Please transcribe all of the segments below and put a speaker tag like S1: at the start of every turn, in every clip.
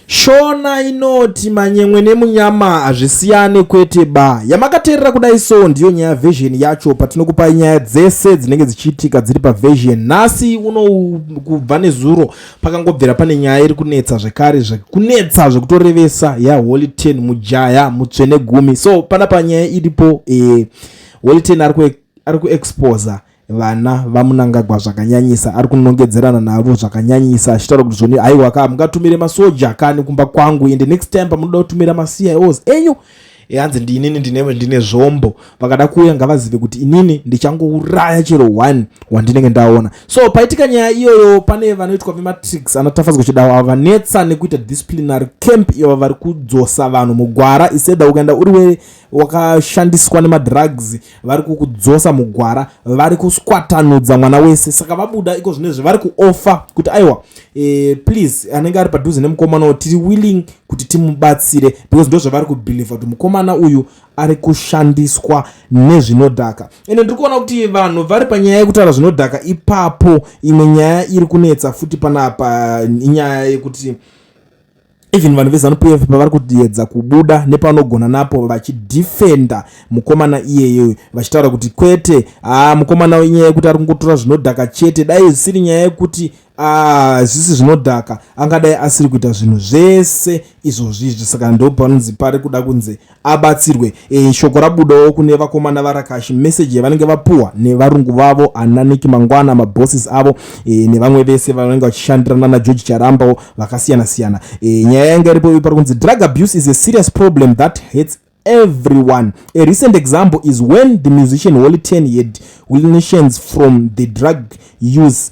S1: Shona inoti manyemwe nemunyama hazvisiyane kwete ba. Yamakateerera kudai so ndiyo nyaya version yacho patinokupai nyaya dzese dzinenge dzichiitika dziri paversion. Nhasi uno kubva nezuro pakangobvira pane nyaya iri kunetsa zvekare zvekunetsa zvekutorevesa yaHoly Ten mujaya mutsvene gumi. So pana panyaya iripo eh, Holy Ten ari kuexposa vana vamunangagwa zvakanyanyisa ari kunongedzerana navo zvakanyanyisa achitaura kuti zvoni haiwa ka mungatumire masoja kani kumba kwangu ende next time pamunoda kutumira macios enyu hanzi ndiinini ndine, ndine zvombo vakada kuuya ngavazive kuti inini ndichangouraya chero one wandinenge ndaona so paitika nyaya iyoyo pane vanoitwa vematrix anatafadzwa chidawo ava vanetsa nekuita disciplinary camp iyo vari kudzosa vanhu mugwara iseda ukaenda uri we wakashandiswa nemadrugs vari kukudzosa mugwara vari kuswatanudza mwana wese saka vabuda iko zvinezvi vari kuofa kuti aiwa e, please anenge ari padhuze nemukomana uyu tiri willing kuti timubatsire because ndo zvavari kubhilivha kuti mukomana uyu ari kushandiswa nezvinodhaka ende ndiri kuona kuti vanhu vari panyaya yekutaura zvinodhaka ipapo imwe nyaya iri kunetsa futi panapa inyaya yekuti even vanhu vezanu pf pavari kutiedza kubuda nepanogona napo vachidefenda mukomana iyeye vachitaura kuti kwete haa ah, mukomana inyaya yekuti ari kungotora zvinodhaka chete dai zvisiri nyaya yekuti hazvisi ah, zvinodhaka angadai asiri kuita zvinhu zvese izvozvizvi saka ndopanonzi pari kuda kunzi abatsirwe e, shoko rabudawo kune vakomana varakashi meseji yavanenge vapuwa nevarungu vavo ananiki mangwana mabosses avo e, nevamwe vese vanenge vachishandirana nageorge charambawo vakasiyana siyana e, nyaya yanga iripo ivi pari kunzi drug abuse is a serious problem that hates everyone a recent example is when the musician holy ten had wilnations from the drug use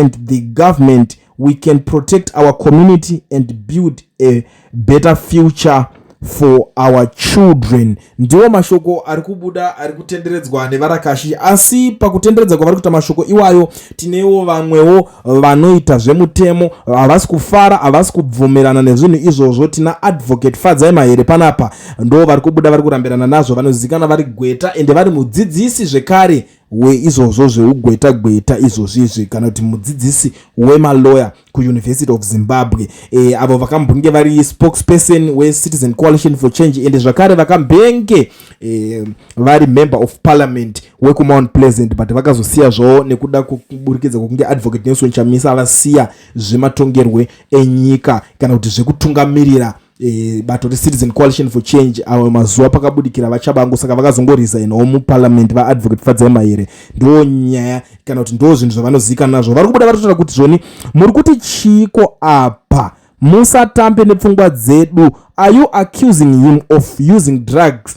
S1: and the government we can protect our community and build a better future for our children ndiwo mashoko ari kubuda ari kutenderedzwa nevarakashi asi pakutenderedza kwavari kuita mashoko iwayo tinewo vamwewo vanoita zvemutemo havasi kufara havasi kubvumirana nezvinhu izvozvo tina advocate fadzai mahere panapa ndo vari kubuda vari kurambirana nazvo vanozikana vari gweta ende vari mudzidzisi zvekare weizvozvo zveugweta gweta izvozvizvi kana kuti mudzidzisi wemaloya kuuniversity of zimbabwe e, avo vakambonge vari spokesperson wecitizen coalition for change ende zvakare vakambenge e, vari member of parliament wekumount pleasant but vakazosiya zvavo nekuda kuburikidza kwekunge advocate nelson chamisa vasiya zvematongerwe enyika kana kuti zvekutungamirira e, bato recitizen coalition for change avo mazuva pakabudikira vachabangu saka vakazongoresignawo muparliament vaadvocate fadzema here ndo nyaya kana kuti ndo zvinhu zvavanozivikanwa nazvo vari kubuda vatotaura kuti zvoni muri kuti chiiko apa musatambe nepfungwa dzedu are you accusing him of using drugs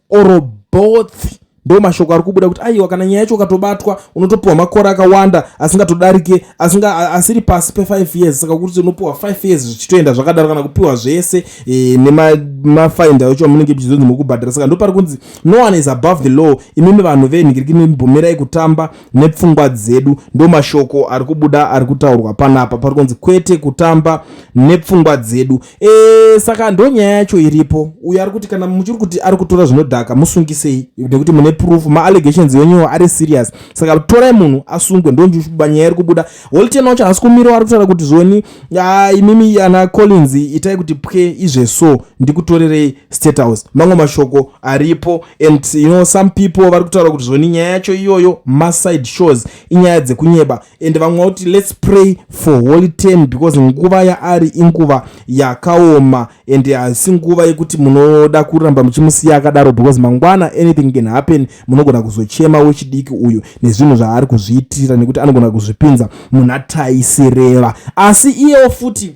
S1: or both ndo mashoko ari kubuda kuti aiwa kana nyaya yacho ukatobatwa unotopiwa makore akawanda asingatodarike asinga asiri pasi pe5 years saka kuti unopiwa 5 years zvichitoenda zvakadaro kana kupiwa zvese e, nemafaindi acho amunenge muchizonzi mukubhadhara saka ndo pari kunzi no one is above the law imimi vanhu venhikiriki mibvumirai kutamba nepfungwa dzedu ndo mashoko ari kubuda ari kutaurwa panapa pari kunzi kwete kutamba nepfungwa dzedu E, saka ndonyaya yacho iripo uyo ari kuti kana muchiri kuti ari kutora zvinodhaka musungisei nekuti mune proof maallegations enyuwo ari serious saka torai munhu asungwe ndonjuba nyaya iri kubuda holiten wacho haasi kumirawo ari kutaura kuti zvoni ah, imimi ana collins itai kuti pwe izve so ndikutorerei state house mamwe mashoko aripo and you know some people vari kutaura kuti zvoni nyaya yacho iyoyo maside shows inyaya dzekunyeba and vamwe vakuti let's pray for holy term because nguva yaari inguva yakaoma and haisi nguva yekuti munoda kuramba muchimusiya akadaro because mangwana anything can happen munogona kuzochema wechidiki uyu nezvinhu zvaari kuzviitira nekuti anogona kuzvipinza muna taisireva asi iyewo futi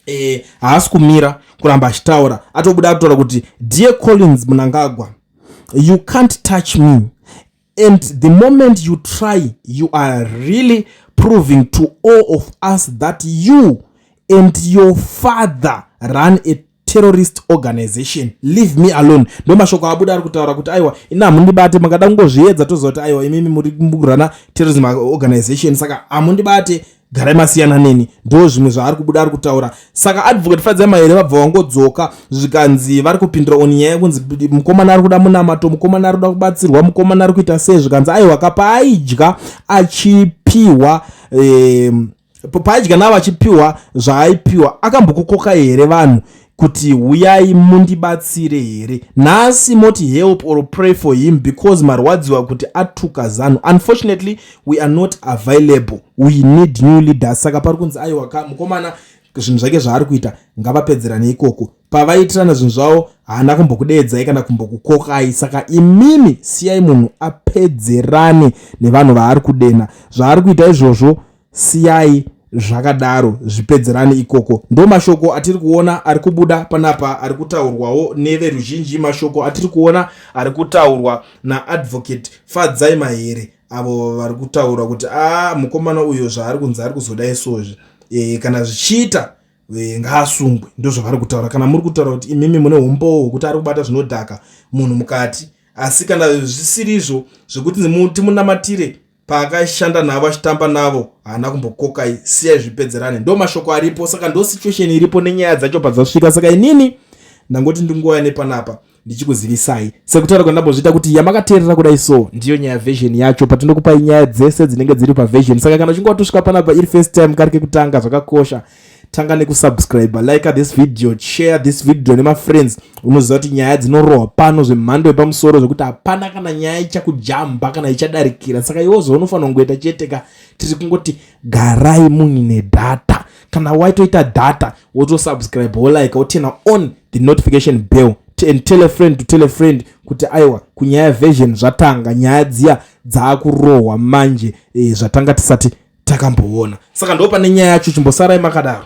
S1: eh, haasi kumira kuramba achitaura atobuda atotaura kuti dear collins munangagwa you can't touch me And the moment you try, you are really proving to all of us that you and your father run a terrorist organization leave me alone ndo mashoko abuda ari kutaura kuti aiwa ina hamundibate makada kungozviedza toziva kuti aiwa imimi muri murana terrorism organization saka hamundibate garai masiyana neni ndo zvimwe zvaari kubuda ari kutaura saka advocate fadzai mahere vabva vangodzoka zvikanzi vari kupindura oni nyaya kunzi mukomana ari kuda munamato mukomana ari kuda kubatsirwa mukomana ari kuita sei zvikanzi aiwa ka paaidya achipiwa eh, paaidya navo achipiwa zvaaipiwa akambokukokai here vanhu kuti huyai mundibatsire here nhasi moti help or pray for him because marwadziwa kuti atuka zanu unfortunately we are not available we need new leaders saka pari kunzi aiwa ka mukomana zvinhu zvake zvaari kuita ngavapedzerane ikoko pavaitirana zvinhu zvavo haana kumbokudeedzai kana kumbokukokai saka imimi siyai munhu apedzerane nevanhu vaari kudena zvaari kuita izvozvo Siyai zvakadaro zvipedzerane ikoko. Ndo mashoko atiri kuona ari kubuda panapa ari kutaurwawo neveruzhinji, mashoko atiri kuona ari kutaurwa naAdvocate Fadzai Mahere avo vari kutaura kuti a ah, mukomana uyo zvaari kunzi ari kuzoda isozvi e, kana zvichiita e, ngaasungwe. Ndozvavari kutaura. Kana muri kutaura kuti imimi mune umbowo hwekuti ari kubata zvinodhaka munhu mukati asi kana zvisirizvo zvekuti timunamatire paakaishanda navo achitamba navo haana kumbokokai siyai zvipedzerane ndo mashoko aripo saka ndo situation iripo nenyaya dzacho padzasvika saka inini ndangoti ndingouya nepanapa ndichikuzivisai sekutaura kwandambozviita kuti yamakateerera kudai so ndiyo nyaya version yacho patinokupai nyaya dzese dzinenge dziri paversion saka kana uchinge watosvika panapa iri first time kari kekutanga zvakakosha tanga nekusubscribe like this video share this video nemafriends unoziva kuti nyaya dzinorohwa pano zvemhando yepamusoro zvekuti hapana kana nyaya ichakujamba kana ichadarikira saka iwo zvaunofanira kungoita chete ka tiri kungoti garai munyu nedata kana waitoita data wotosubscribe wolike wotena on the notification bell and tell a friend to tell a friend kuti aiwa kunyaya version zvatanga nyaya dziya dzaakurohwa manje e, zvatanga tisati takamboona saka ndopane nyaya yacho chimbosarai makadaro